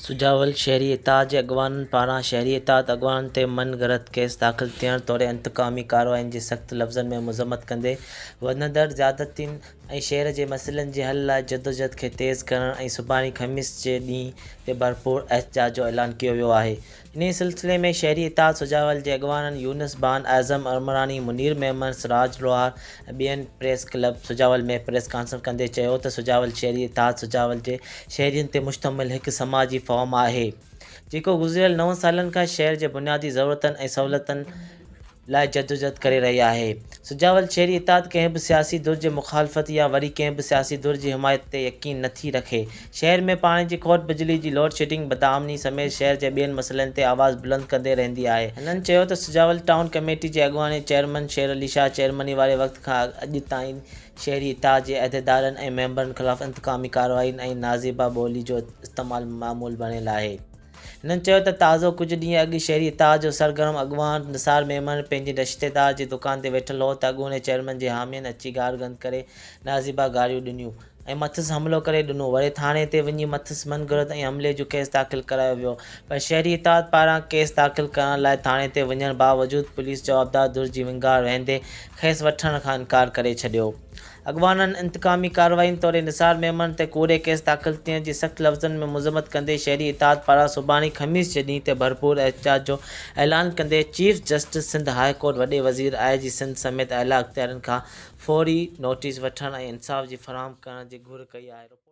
سجاول شهري اتحاد جي اڳواڻن پاران شهري اتحاد اڳواڻن تي من گهڙت ڪيس داخل ٿيڻ توڙي انتقامي ڪاررواين جي سخت لفظن ۾ مذمت ڪندي وڌندڙ زيادتين ۽ شهر جي مسئلن جي حل لاء جدوجهد کي تيز ڪرڻ ۽ سڀاڻي خميس جي ڏينهن تي ڀرپور احتجاج جو اعلان ڪيو ويو آهي. انهيء سلسلي ۾ شهري اتحاد سجاول جي اڳواڻن يونس بان، اعظم عمراڻي، منير ميمڻ، سراج لوهار ۽ ٻين press club Sujawal ۾ press concert ڪندي چيو ته سجاول شهري اتحاد سجاول جي شهرين تي مشتمل هڪ سماجي فورم آهي جيڪو گذريل نون سالن کان شهر جي بنيادي ضرورتن ۽ سهولتن لاء جدوجھد ڪري رهي آهي. سجاول شهري اتحاد ڪنهن به سياسي ڌر جي مخالفت يا وري ڪنهن به سياسي ڌر جي حمايت تي يقين نه ٿي رکي. شهر ۾ پاڻي جي کوٽ، بجلي جي لوڊ شيڊنگ، بدامني سميت شهر جي ٻين مسئلن تي آواز بلند ڪندي رهندي آهي. هنن چيو ته سجاول ٽائون ڪميٽي جي اڳواڻي چيئرمن شير علي شاهه چيئرمني واري وقت کان اڄ تائين شهري اتحاد جي عهديدارن ۽ ميمبرن خلاف انتقامي ڪاررواين ۽ نازيبا ٻولي جو استعمال معمول بڻيل آهي. هنن چيو ته تازو ڪجهه ڏينهن اڳ شهري اتحاد جو سرگرم اڳواڻ نثار ميمڻ پنهنجي رشتيدار جي دڪان تي ويٺل هو ته اڳوڻي چيئرمين جي حامين اچي گار گند ڪري نازيبا گاريون ڏنيون ۽ مٿس حملو ڪري ڏنو وڙي ٿاڻي تي وڃي مٿس من گهڙت ۽ حملي جو ڪيس داخل ڪرايو ويو پر شهري اتحاد پاران ڪيس داخل ڪرڻ لاء ٿاڻي تي وڃڻ باوجود پوليس جوابدار ڌر جي ونگار وهندي کيس وٺڻ کان انڪار ڪري ڇڏيو اڳواڻن انتقامي ڪاررواين توڙي نثار ميمڻ تي ڪوڙي ڪيس داخل ٿيڻ جي سخت لفظن ۾ مذمت ڪندي شهري اتحاد پاران سڀاڻي خميس جي ڏينهن تي ڀرپور احتجاج جو اعلان ڪندي chief justice Sindh high court وڏي وزير آء جي سنڌ سميت اعليٰ اختيارين کان فوري نوٽيس وٺڻ ۽ انصاف جي فراهم ڪرڻ جي گهر ڪئي آهي.